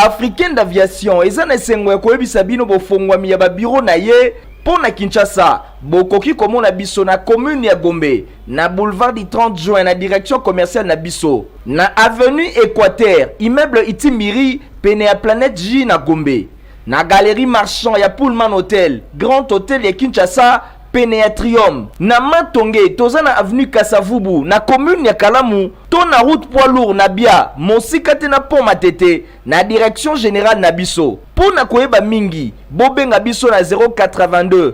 africaine d'aviation eza na esengo ya koyebisa bino bofongwami ya babiro na ye mpo na kinshasa bokoki komona biso na commune ya gombe na boulevard du 30 juin na direction commerciale na biso na avenue équateur immeuble itimbiri pene ya planète j na gombe Na Galerie Marchand ya Pullman Hotel, Grand Hotel ya Kinshasa, pene ya Trium. Na Matonge, toza na avenue Kasa-Vubu, na commune ya Kalamu, to na route poids lourd na Bia, mosika te na pont Matete, na direction generale na biso. Mpo na koyeba mingi, bobenga biso na 082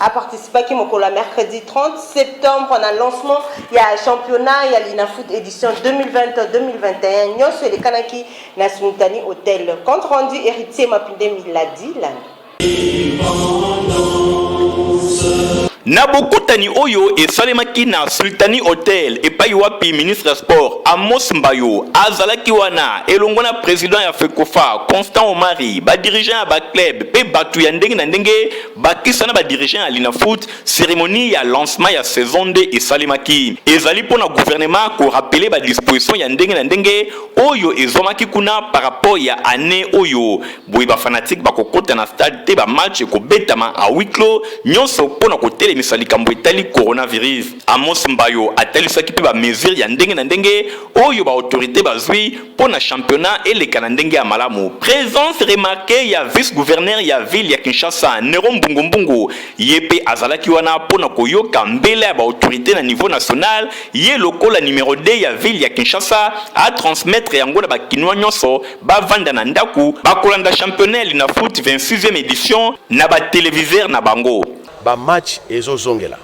A participaki mokolo ya mercredi 30 septembre na lancement ya championnat ya Linafoot edition 2020-2021 nyonso elekanaki na Sumitani Hotel. Compte rendu Heritier Mapinde Miladi Landa. Na bokutani oyo esalemaki na Sultani Hotel epai wapi ministre ya sport Amos Mbayo azalaki wana elongo na president ya FECOFA Constant Omari, ba dirigeants ya ba club mpe bato ya ndenge na ndenge Bakisa na ba dirigeants ya Linafoot, ceremonie ya lancement ya saison nde esalemaki. Ezali mpo na gouvernement ko rappeler ba dispositions ya ndenge na ndenge oyo ezwamaki kuna par rapport ya annee oyo. Boye ba fanatiques bakokota na stade te, ba matchs ekobetama à huis clos, nionso mpo na kotelemisa likambo etali coronavirus. Amos Mbayo atalisaki mpe ba mesures ya ndenge na ndenge oyo ba autorites bazwi. mpo na championnat eleka na ndenge ya malamu. Presence remarquee ya vice-gouverneur ya ville ya Kinshasa, Nero Mbungu Mbungu, ye mpe azalaki wana mpo na koyoka mbela ya ba autorites na niveau national, ye lokola numero 2 ya ville ya Kinshasa, a transmettre yango na ba Kinois nyonso bavanda na ndaku, bakolanda championnat ya Linafoot 26e edition na ba televiseurs na bango. Ba matchs ezo zongela.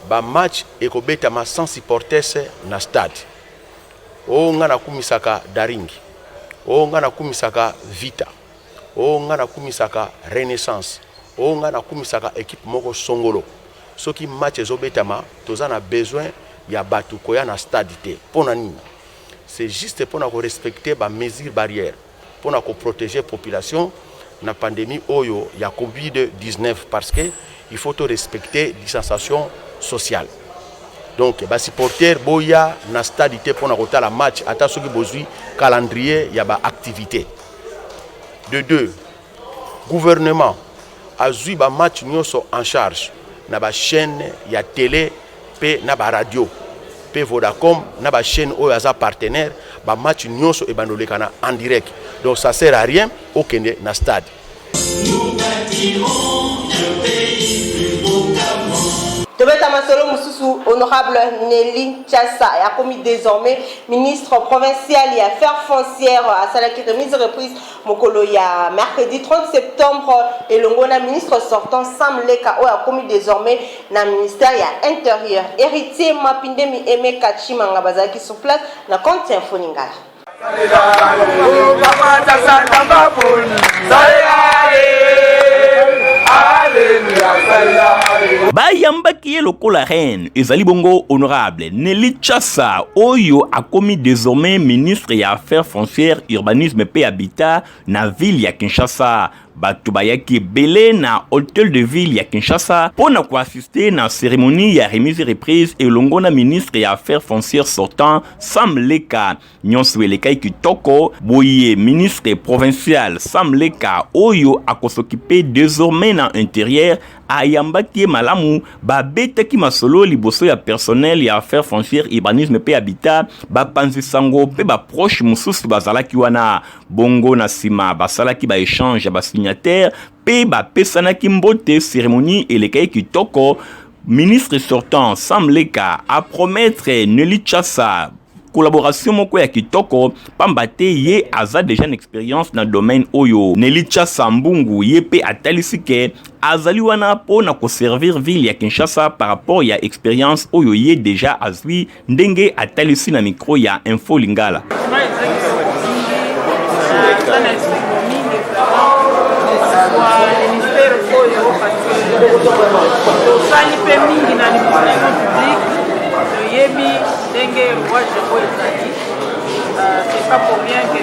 Ba matchs ekobetama sans supporters na stade. Oh nga na kumisaka Daring oh nga na kumisaka Vita oh nga na kumisaka Renaissance oh nga na kumisaka equipe moko songolo soki match ezo betama toza na besoin ya batu koya na stade te pona nini c'est juste pona ko respecter ba mesures barrières mpo na ko proteger population na pandemie oyo ya covid 19 parce que il faut to respecter distanciation sociale donc ba supporters boya na stade te mpo na kotala match ata soki bozwi calendrier ya ba activités de deux Gouvernement azui ba matchs nionso en charge na ba chaines ya tele mpe na ba radios mpe Vodacom na ba chaines oyo aza partenaire ba matchs nionso ebanda olekana en direct donc ça sert à rien okende na stade. Tobeta masolo mosusu Honorable Nelly Nchassa akomi desormais ministre provincial ya affaires foncières asalaki remise reprise mokolo ya mercredi 30 septembre elongo na ministre sortant Sam Leka oyo akomi désormais na ministère ya Intérieur. Héritier Mapindemi Aimé Katshimanga bazalaki sur place na compte ya Info Lingala. bayambaki ye lokola reine ezali bongo honorable Nelly Chassa oyo akomi désormais ministre ya affaires foncières urbanisme mpe habitat na ville ya Kinshasa bato bayaki ebele na hotel de ville ya Kinshasa mpo na koassiste na cérémonie ya remise reprise elongo na ministre ya affaires foncières sortant Sam Leka nyonso elekaki kitoko boye ministre provincial sam leka oyo akosokipe désormais na interieur ayambaki ye malamu babetaki masolo liboso ya personnel ya affaire foncière urbanisme mpe habitat bapanzi sango mpe baproche mosusu bazalaki wana bongo na nsima basalaki baechange ya basignataire mpe bapesanaki mbote. Seremoni elekaki kitoko. Ministre sortant Sam Leka apromettre Nelly Chassa collaboration moko ya kitoko pamba te ye aza deja na experience na domaine oyo. Nelly Chassa Mbungu ye mpe atalisi ke azali wana mpo na koservir ville ya Kinshasa par rapport ya experience oyo ye deja azwi ndenge atalisi na mikro ya Info Lingala. tosali mpe mingi na limonano public toyebi ndenge rouage oyo ezali euh, c'est pas pour rien que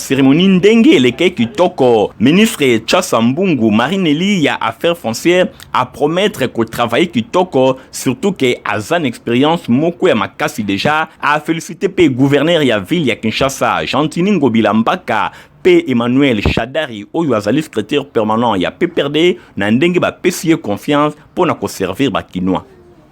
Ceremonie ndenge eleke kitoko. Ministre Chasa Mbungu Marinelli ya Affaires foncières a promettre ko travailler kitoko surtout que aza na experience moko ya makasi déjà a féliciter pe gouverneur ya ville ya Kinshasa Gentini Ngobila Mbaka pe Emmanuel Shadari oyo azali secrétaire permanent ya PPRD na ndenge bapesi ye confiance pona ko servir ba kinois.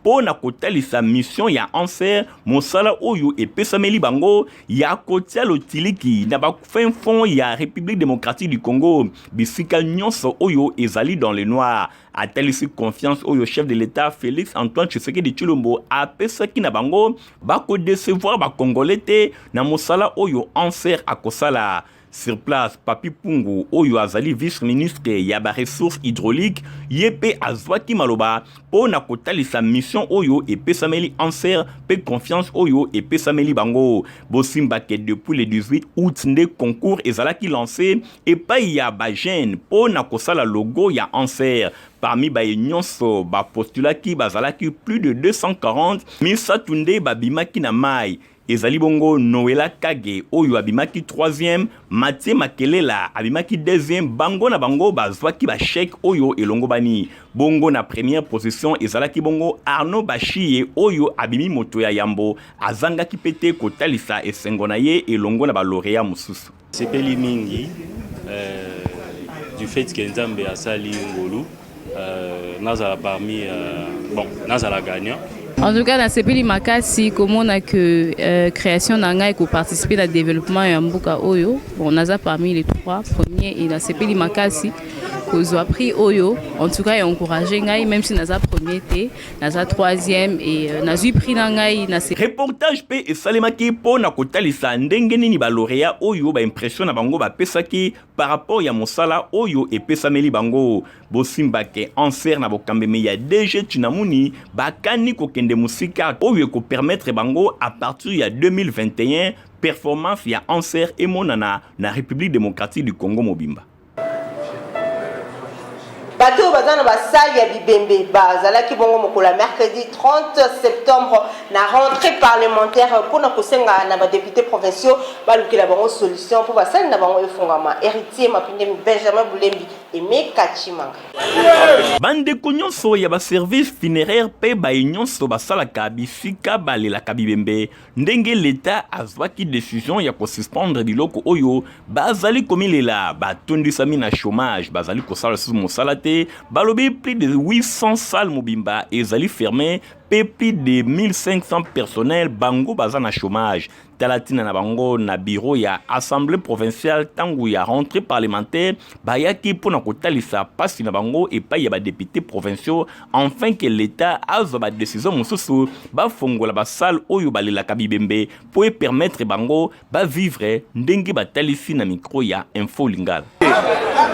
mpo na kotalisa mission ya anser mosala oyo epesameli bango ya kotia lotiliki na bafin fond ya république démocratique du congo bisika nyonso oyo ezali dans le noir atalisi confiance oyo chef de l'état félix antoine tshisekedi tshilombo apesaki na bango bakodecevoir bacongolais te na mosala oyo anser akosala Sur place, Papi Pungu, oyo azali vice-ministre ya ba ressources hydrauliques, ye mpe azwaki maloba mpo na kotalisa mission oyo epesameli ANSER mpe confiance oyo epesameli bango. Bosimba ke depuis le 18 août nde concours ezalaki lance epai ya ba jeunes mpo na kosala logo ya ANSER. Parmi baye nyonso bapostulaki bazalaki plus de 240, misato nde babimaki na mayi. Ezali bongo Noella Kage oyo abimaki 3e, Mathieu Makelela abimaki 2e, bango na bango bazwaki ba chèque oyo elongobani. Bongo na première position ezalaki bongo Arnaud Bashiye oyo abimi moto ya yambo, azangaki mpe te kotalisa esengo na ye elongo na ba laureats mosusu. Sepeli mingi euh, du fait que Nzambe asali ngolu euh, nazala parmi euh, bon nazala gagnant En tout cas, na sepeli makasi komona que euh, création na ngai ko participer na développement ya mboka oyo. Bon, naza parmi les trois premiers et na sepeli makasi kozwa prix oyo. En tout cas, encourager ngai même si naza premier te. naza troisième et euh, nazwi prix na ngai na reportage mpe esalemaki mpo na kotalisa ndenge nini balorea oyo baimpression na bango bapesaki par rapport ya mosala oyo epesameli bango bosimbake anser na bokambemi ya dg chinamuni bakani kokende mosika oyo ekopermettre bango a partir ya 2021 performance ya anser emonana na république démocratique du congo mobimba bato oyo baza na basali ya bibembe bazalaki bongo mokolo ya mercredi 30 septembre na rentrée parlementaire mpo na kosenga na badepute provinciaux balukela bango solution mpo basali na bango efungama héritier mapindemi benjamin bulembi eme kachimanga bandeko nyonso ya baservice funeraire mpe baye nyonso basalaka bisika balelaka bibembe ndenge leta azwaki decision ya kosuspendre biloko oyo bazali komilela batondisami na chômage bazali kosala lisusu mosala te balobi plus de 800 salle mobimba ezali ferme mpe plus de 1500 personnel bango baza na chômage tala ntina na bango na biro ya assemblée provinciale ntango ya rentrée parlementaire bayaki mpo na kotalisa mpasi na bango epai ya badepute provinciaux enfin que l'Etat azwa ba decision mosusu bafongola ba salle oyo balelaka bibembe mpo e permettre bango ba vivre ndenge batalisi na micro ya Info Lingala.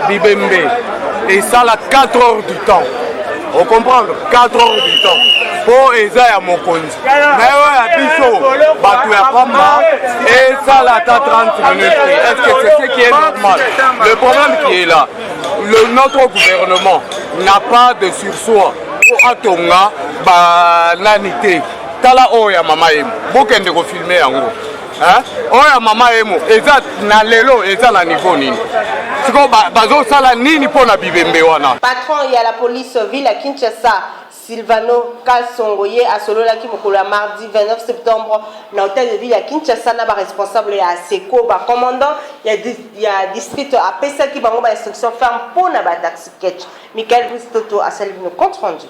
Bibembe esala 4 heures du temps. O comprendre 4 heures du temps. mpo eza ya mokonzi me oyo ya biso bato ya pamba esala ata 30 minutes est ce que c'est ce qui est normal le problème qui est là Le, notre gouvernement n'a pas de sursoir mpo atonga banani te tala oyo ya mama emo bokende kofilme yango oyo ya mama emo eza na lelo eza na niveau nini sikoyo bazosala nini mpo na bibembe wana patron ya la police ville ya kinshasa Sylvano Kasongo ye asololaki mokolo ya mardi 29 septembre na hotel de ville ya Kinshasa na ba responsables ya ASECO. Ba commandants ya, ya district apesaki bango ba instructions fermes mpo na ba taxi catch. Michael Brice Toto asali bino compte rendu.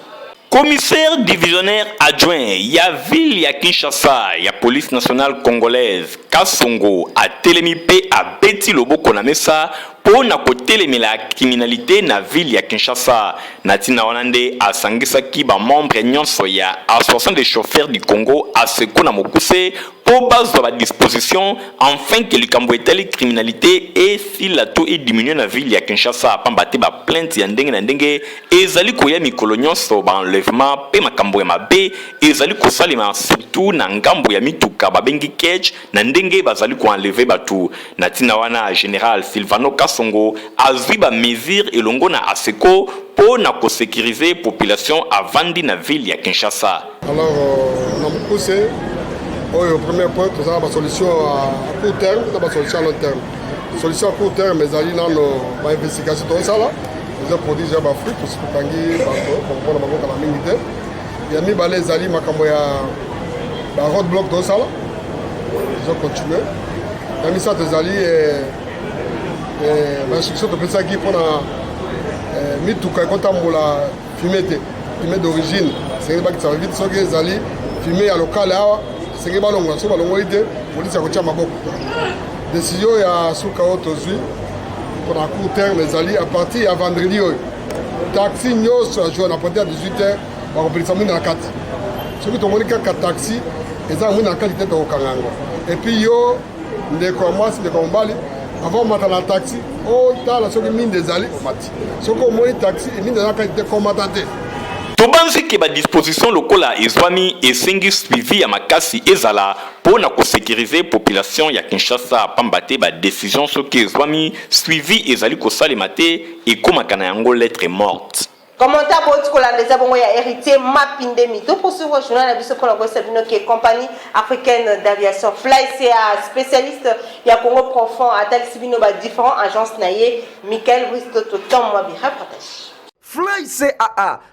Commissaire divisionnaire adjoint ya ville ya Kinshasa ya police nationale congolaise, Kasongo atelemi mpe abeti loboko na mesa mpo na kotelemela criminalite na ville ya Kinshasa. Na ntina wana nde asangisaki ba membres nyonso ya Association des chauffeurs du Congo, ASECO na mokuse, mpo bazwa ba dispositions enfin que likambo etali criminalite esila to e diminuer na ville ya Kinshasa, pamba te ba plaintes ya ndenge na ndenge ezali koya mikolo nyonso, ba enlèvements mpe makambo ya mabe ezali kosalema surtout na ngambo ya mituka babengi cage, na ndenge bazali ko enlever batu. Na tina wana, general Sylvano Kasongo azui ba mesures elongo na Aseco po na ko securiser population avandi na ville ya Kinshasa. Alors, na mokuse oyo, premier point, toza na ba solutions à court terme na ba solutions à long terme. Solution à court terme ezali nano ba investigations tozosala, tozo produire déjà ba fruits, tosi tokangi bato bakopona bango kala mingi te. ya mibale ezali makambo ya baroad block tosala ezocontinue ya misato ezali eh, eh, bainstruction topesaki mpo na eh, mituka ekotambola fume te fume d'origine esengeli bakitisa vite soki ezali fume ya lokale awa esengeli balongola soki balongoli te polisi ya kotya maboko desizio ya suka oyo tozwi mpo na court terme ezali a partir ya vendredi oyo taxi nyonso ya jour na partir ya 18 heures bakopelisa mwinda na kati soki tomoni kaka taxi eza na mwinda na kati te tokokanga yango epuis yo ndeko ya mwasi ndeko ya mobali avant omata na taxi otala soki minda ezali omati soki omoni taxi minda eza kati te komata te tobanzi ke badisposition lokola ezwami esengi suivi ya makasi ezala mpo na kosekirize population ya kinshasa pamba te badesizio soki ezwami suivi ezali kosalema te Ekomaka na yango lettre morte. Commentaire bowuti kolanda eza bongo ya Heritier Mapindemi. Toposuivre journal na biso mpo na koyebisa bino ke compagnie africaine d'aviation Flycea specialiste ya Congo profond atalisi bino ba differents agences na ye. Michael Brice Toto Tom Mwabi reportage. Flycea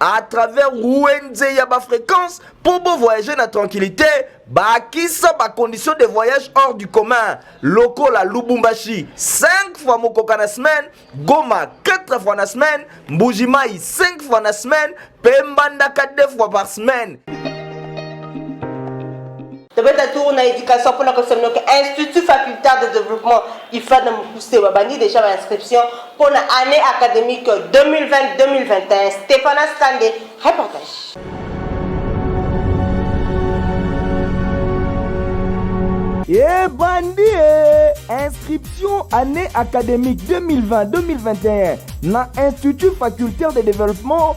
à travers wenze ya bafréquence mpo bovoyage na tranquillité bakisa bacondition de voyage hors du commun lokola lubumbashi 5 fois mokoka na semaine goma 4 fois na semaine mbujimai 5 fois na semaine mpe mbandaka 2 fois par semaine Tobeta tour na education pona kosemna ke Institut facultaire de développement IFAD na mokuse babandi deja ba inscription pona année académique 2020-2021. Stephanas Kande, reportage. ebandi e inscription année académique 2020-2021 na institut facultaire de développement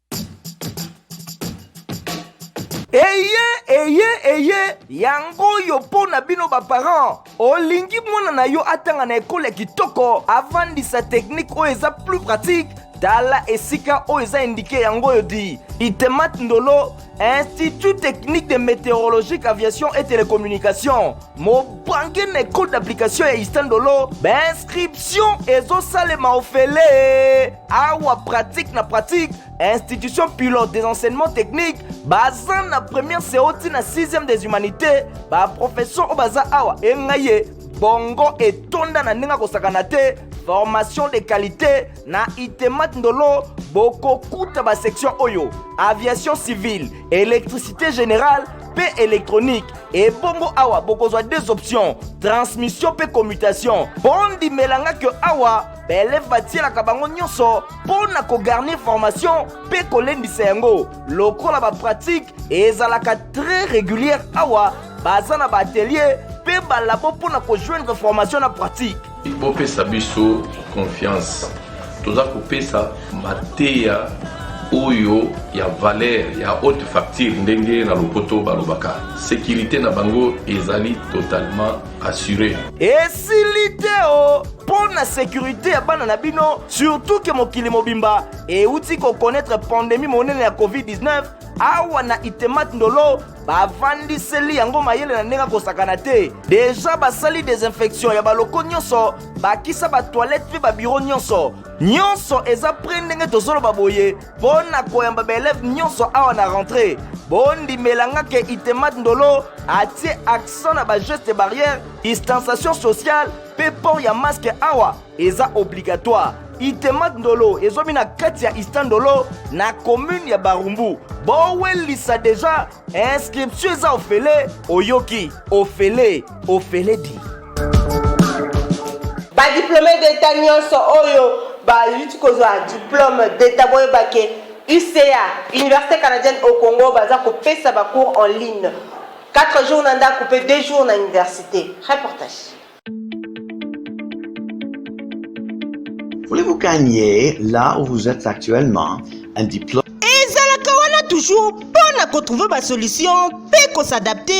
eye eye eye yango oyo mpo na bino baparent olingi mwana na yo atanga na ekolo ya kitoko avandisa teknike oyo eza plus pratique tala esika oyo eza indike yango oyo di itemat ndolo institut technique de météorologique aviation et télécommunication mobange na ekole d'application ya istandolo bainscription ezosalema ofele awa pratique na pratique institution pilote des enseignements techniques baza na première seo ti na 6e des humanités baprofesseur oyo baza awa engai ye bongo etonda na ndenge akosakana te formation de qualité na itemat ndolo bokokuta basection oyo aviation civile électricité générale mpe électronique ebongo awa bokozwa deux options transmission mpe commutation bondimelanga ke awa baeleve batielaka bango nyonso mpo na kogarnir formation mpe kolendisa yango lokola bapratike ezalaka très régulière awa baza na baatelier mpe balabo mpo na kojoindre formation na pratique bopesa biso confiance toza kopesa mateya oyo ya valeur ya haute facture ndenge na lopoto balobaka sécurité na bango ezali totalement assuré. esili te o mpo na sekurite ya bana na bino surtout ke mokili mobimba euti kokonetre pandemi monene ya covid-19 awa na itemat ndolo bavandiseli yango mayele na ndenge akosakana te deja basali desinfection ya baloko nyonso bakisa batoilette mpe babiro nyonso nyonso eza pre ndenge tozoloba boye mpo na koyamba baeleve nyonso awa na rentrée bondimela nga ke itemat ndolo atie accent na bageste barrière distanciation sociale mpe port ya maske awa eza obligatoire itemat ndolo ezwami na kati ya istandolo na commune ya barumbu bowelisa deja inscription eza ofele oyoki ofele ofele di badiplome d'etat nyonso oyo bayuti kozwa diplome d'etat boyeba ke uca université canadienne au congo baza kopesa bacours en ligne 4 jours na ndako mpe 2 jours na université reportage Voulez-vous gagner là où vous êtes actuellement un diplôme ezalaka wana toujours mpo na kotrouve basolution mpe kosadapte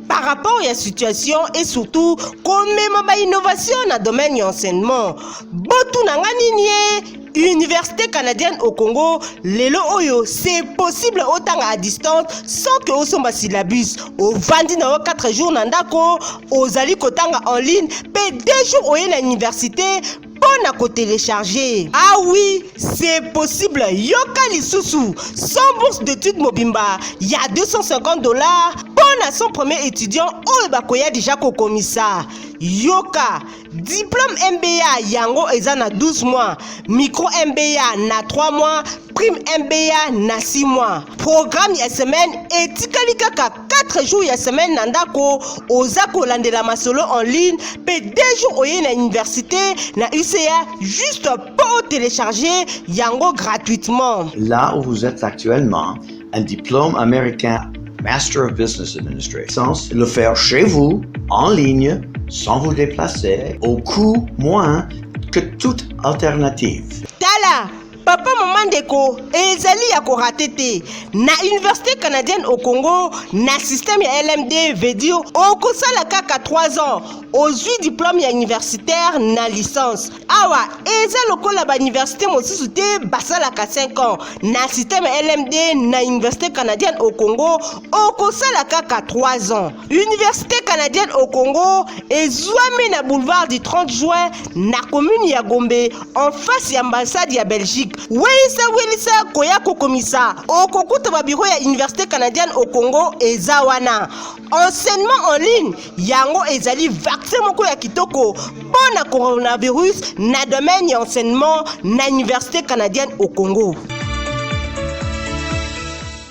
par rapport ya situation et surtout komema bainnovation na domaine ya enseignement botuna nga nini ye université canadienne au congo lelo oyo c'est possible otanga à distance sans que osomba syllabus ovandi na yo 4 jours na ndako ozali kotanga en ligne mpe 2 jours oye na université mpo na kotelecharge ah oui c'est possible yoka lisusu sans bourse d'étude mobimba ya 250 dollars mpo na 100 premier étudiant oyo bakoya deja kokomisa yoka Diplôme MBA yango eza na 12 mois, micro MBA na 3 mois, prime MBA na 6 mois. Programme ya semaine etikali kaka 4 jours ya semaine na ndako, oza kolandela masolo en ligne pe 2 jours oye na université na UCA juste pour télécharger yango gratuitement. Là où vous êtes actuellement Un diplôme américain Master of Business Administration, le faire chez vous, en ligne, sans vous déplacer, au coût moins que toute alternative. Tala papa mama ndeko ezali ya korate te na université canadienne au congo na système ya lmd veut dire okosala kaka 3 ans ozwi diplôme ya universitaire na licence awa eza lokola bauniversité mosusu te basalaka 5 ans na systeme lmd na université canadienne au congo okosala kaka 3 ans université canadienne au congo ezwami na boulevard du 30 juin na commune ya gombe en face ya ambassade ya belgique welisa welisa koya kokomisa okokuta babiro ya université canadienne au congo eza wana Enseignement en ligne yango ezali vaccin moko ya kitoko mpo na coronavirus na domaine ya enseignement na université canadienne au Congo.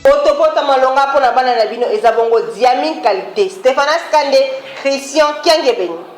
Potopota malonga mpo na bana na bino eza bongo diamine qualité. Stephanas Kande, Christian Kiangebeni.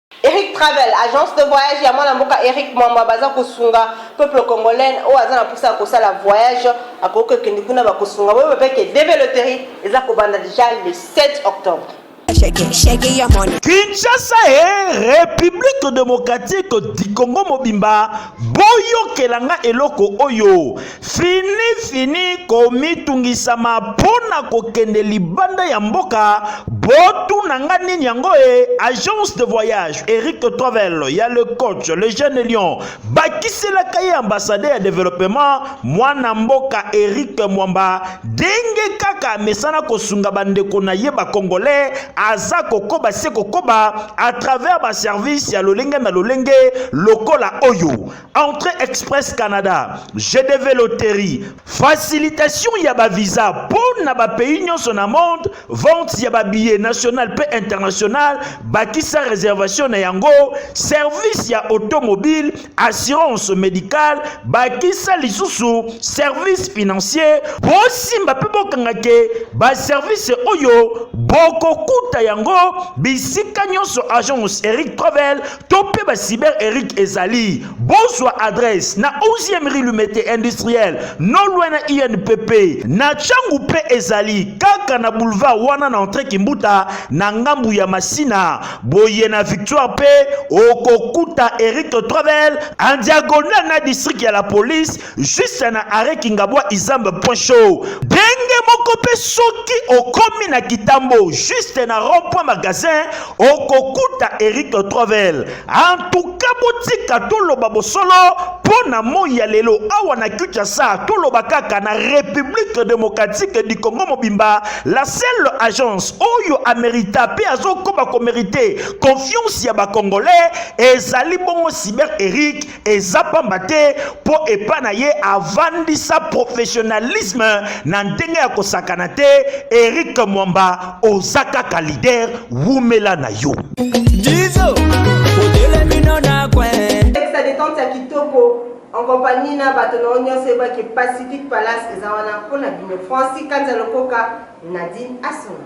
Eric Travel, agence de voyage ya mwana mboka Eric Mwamba baza kosunga peuple congolais oyo aza na posa ya kosala voyage akoki kokende kuna bakosunga boyeba mpe ke DV Lotterie eza kobanda deja le 7 octobre. Kinshasa e Republique democratique du Congo mobimba boyokela nga eloko oyo Fini fini komitungisa ma pona kokende libanda ya mboka botu na nga nini yango e agence de voyage Eric Travel ya le coach le jeune lion bakiselaka ye ambassadeur ya developement mwana mboka Eric Mwamba denge kaka amesana kosunga bandeko na ye bakongolais aza kokoba se kokoba à travers ba service ya lolenge na lolenge lokola oyo Entrée Express Canada, GDV Lottery, facilitation ya ba visa mpo na ba pays nyonso na monde, vente ya ba billets national mpe international, bakisa réservation na yango, service ya automobile, assurance médicale, bakisa lisusu service financier, bosimba mpe bokanga ke ba service oyo bokokuta yango bisika nyonso agence Eric Travel to mpe ba cyber eric ezali bozwa adresse na 11e rue lumete industriel no loin na inpp na changu mpe ezali kaka na boulevard wana na entre kimbuta na ngambu ya masina boye na victoire mpe okokuta eric travel en diagonal na district ya la police Juste na arrêt Kingabwa Izamba point show. Denge moko pe soki okomi na kitambo juste na rond point magasin okokuta Eric Trovel. En tout cas botika toloba bosolo mpo na moi ya lelo awa na Kinshasa toloba kaka na République démocratique du Congo mobimba la seule agence oyo amerita mpe azokoba komerite confiance ya bacongolais ezali bongo cyber Eric eza pamba te mpo epa na ye avandisa professionnalisme na ndenge ya kosakana te erik mwamba oza kaka lider wumela na yo Jizo, en compagnie na bato na yo nyonso eyebaki pacifique palace eza wana mpo na bino franci kanza lokoka nadine asona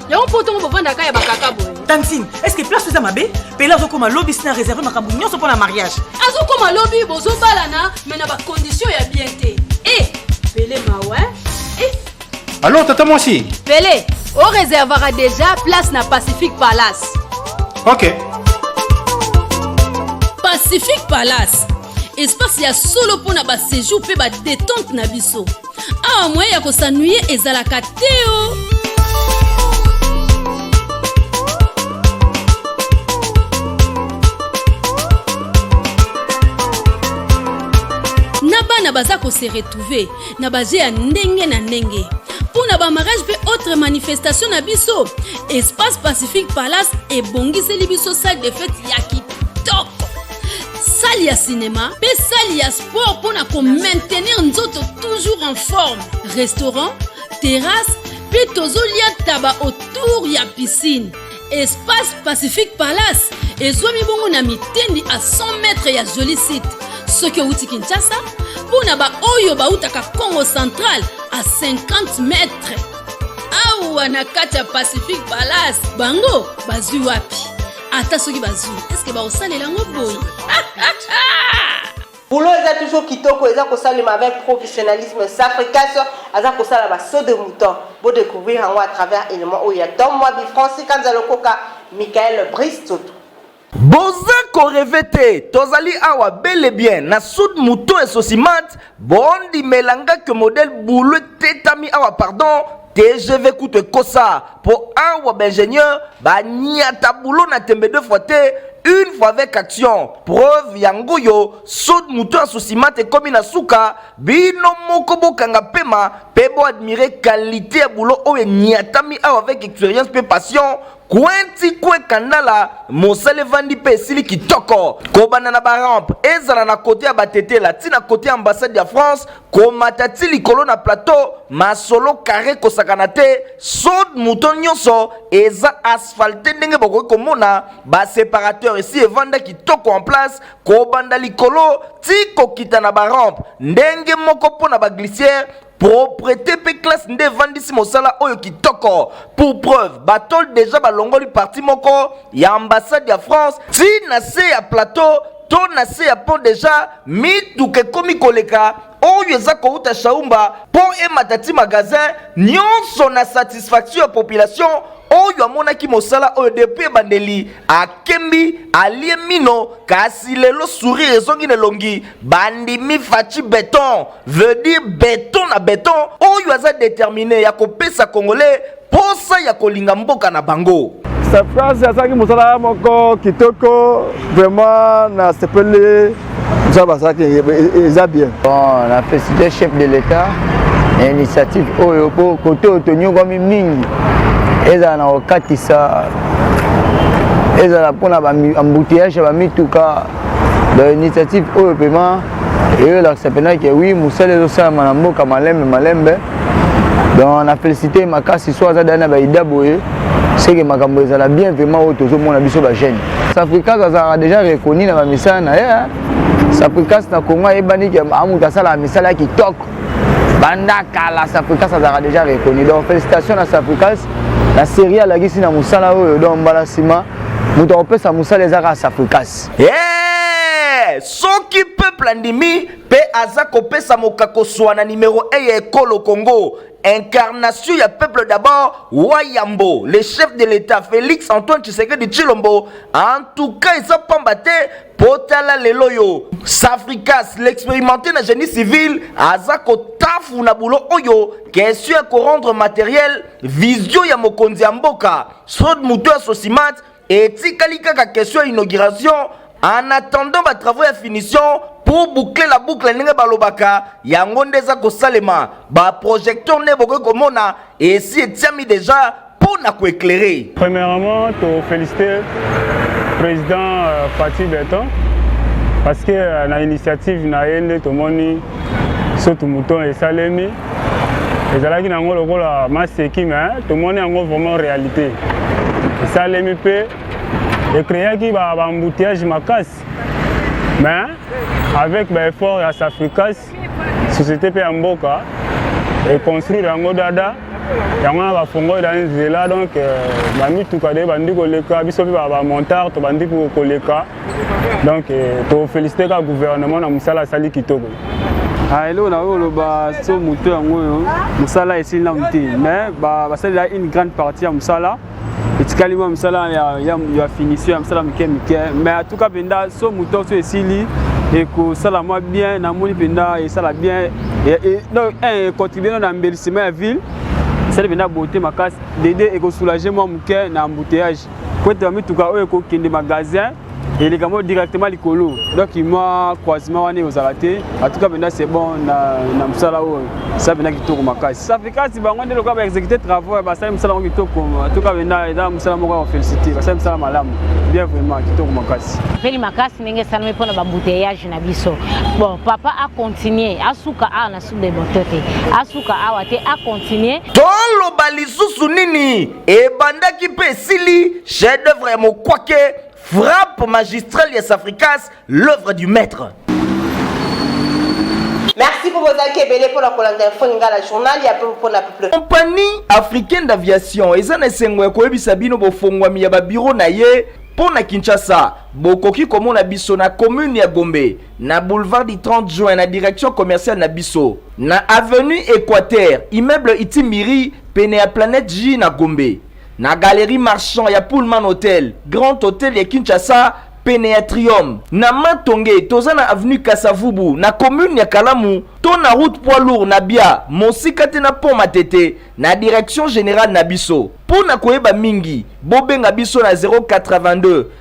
yango mpo ntongo bovandaka ya bakaka boye tantine estce place eza mabe pele azokoma lobi sina réserve makambo nyonso mpo na mariage azokoma lobi bozobalana me na bakondition ya bien te e eh, pele mawa e eh. alors tata mwasi pele oreservaka déjà place na pacifique palace ok pacifique palace espace ya solo mpo na basejour mpe badetente na biso awa moye ya kosanuye ezalaka te o oh. na bana baza kose retrouve na baje ya ndenge na ndenge mpo na bamarage mpe autre manifestation na biso espace pacifique palace ebongiseli biso salle de fete ya sali ya sinema mpe sali ya sport mpo na komaintenir nzoto toujours en forme restaurant terrasse mpe tozolia taba autour ya piscine espace pacifique palace ezwami bongo na mitendi a 100 mètre ya joli site soki outi kinshasa mpo na baoyo bautaka congo central a 50 mètre awa na kati ya pacifique palace bango bazwi wapi ata soki bazwi eske bakosalela yango boye bulo eza toujours kitoko eza kosalema avec professionnalisme safricas aza kosala basaut de mouton bodécouvrir yango à travers élément oyo ya tom mwabi franci kanza lokoka michael brice toto boza koreve te tozali awa bele bien na sud moto esosimat bondimela nga ke modele bulu etetami awa pardon tgv kutu ekosa mpo awa baingenieur baniata bulo na tembe deux fois te une fois avec action preuve yango oyo so moto ya sosimate ekomi na suka bino moko bokanga pema mpe boadmire kalite ya bulo oyo eniatami awa avec expérience mpe passion Kwenti kwe kandala mosala evandi mpe esili kitoko kobanda na barampe ezala na kote ya batetela ti na kote ya ambassade ya France komata ti likolo na plateau masolo kare kosakana te sod moto nyonso eza asphalte ndenge bokoki komona ba separateur esi evanda kitoko en place kobanda likolo ti kokita na barampe ndenge moko mpo na baglisiere proprete mpe classe nde evandisi mosala oyo kitoko pour preuve batole deja balongoli parti moko ya ambassade ya france ti na se ya plateau to na se ya pont deja mituka ekomi koleka oyo eza kouta shaumba mpo emata ti magasin nyonso na satisfaction ya population oyo amonaki mosala oyo depuis ebandeli akembi alie mino kasi lelo sourire ezongi na elongi bandimi faci beton veut dire beton na beton oyo aza determine ya kopesa congolais mposa ya kolinga mboka na bango Surprise azalaki mosala moko kitoko vraiment nasepeli nzambe azalaki eza bien bon na felicite chef de l'état na initiative oyo mpo kote oyo tonyokwami mingi ezala na kokatisa ezala mpona embouteillage ya bamituka donc initiative oyo mpema eyo elakisa mpenza ke wi mosala ezosalama na mboka malembe malembe donc na félicité makasi so aza dana ba ida boye seke makambo ezala bien vraiment oyo tozomona biso ba jeune safricas azalaka déjà reconnu na bamisala na ye safricas na congo ayebani ke amoto asalaka misala ya kitoko banda kala safricas azalaka déjà reconnu donc félicitation na safricas na série alakisi na mosala oyo donc mbala nsima moto akopesa mosala eza kaka safricas yeah! soki peuple andimi Pe aza kopesa mokako swa na numero 1 ya ekolo Congo incarnation ya peuple d'abord wayambo le chef de l'état félix antoine tshisekedi tshilombo en tout cas eza pamba te mpo tala lelo oyo safricas l'expérimenté na génie civil aza kotafuna bulo oyo question ya korendre materiel vision ya mokonzi ya mboka sod moto ya sosimate Etikali kaka question ya inauguration en attendant ba travaux ya finition pour boucler la boucle ndenge balobaka yango nde eza kosalema ba projecteur nde bokoki komona esi etiami deja mpo na koeclaire premièrement to féliciter président euh, Fatih Beton parce que euh, na initiative na ye nde tomoni sotu mouton esalemi ezalaki na yango lokola maseki me tomoni yango vraiment réalité esalemi mpe ecreaki baembouteillage makasi mais avec baeffort ya safricas société mpe ya mboka econstruire yango dada yango wana bafongoli na nzela donc euh, bamituka de bandi koleka biso mpe bamontare tobandi koleka donc eh, to féliciter ka gouvernement na musala asali kitoko ah, eloko na oyo oloba so moto yango oyo mosala esili nanu te mais basalela une grande partie ya mosala etikali mwa mosala ya finition ya mosala mike mike mais atuka mpenza so moto so esili ekosala mwa bien namoni mpenza esala bien econtribue no na embellissement ya ville esali mpenza beauté makasi dede ekosoulage mwa moke na embouteillage Kwete ya mituka oyo ekokende magasin eleka moko directement likolo donc mwa croisement wana ekozala te atuka mpenza c'est bon na, na mosala oyo sa mpenza kitoko makasi safikasi bango nde lokola baexécute travaux ya basali mosala yango kitoko atuka mpenza eza mosala moko ya kofélicité basali mosala malamu bien vraiment kitoko makasi peli makasi ndenge esalami mpo na bambouteillage na biso bon papa acontinue asuka awa na sud de boto te asuka awa te acontinue toloba lisusu nini Ebandaki pe esili, chef d'oeuvre ya mokwake, frappe magistrale ya Safricas, l'oeuvre du maitre. Merci po bozalaki ebele pona kolanda info lingala journal ya peuple pona peuple. Compagnie africaine d'aviation eza na esengo ya koyebisa bino bofongwami ya ba bureaux na ye mpo na Kinshasa. Bokoki komona biso na commune ya Gombe, na boulevard du 30 juin na direction commerciale na biso, na avenue Equateur, immeuble Itimbiri. pene ya Planète J na Gombe, na Galerie Marchand ya Pullman Hotel, Grand Hotel ya Kinshasa, pene ya Trium, na Matonge toza na avenue Kasa-Vubu na commune ya Kalamu to na route poids lourd na Bia mosika te na pont Matete na direction generale na biso. Mpo na koyeba mingi, bobenga biso na 082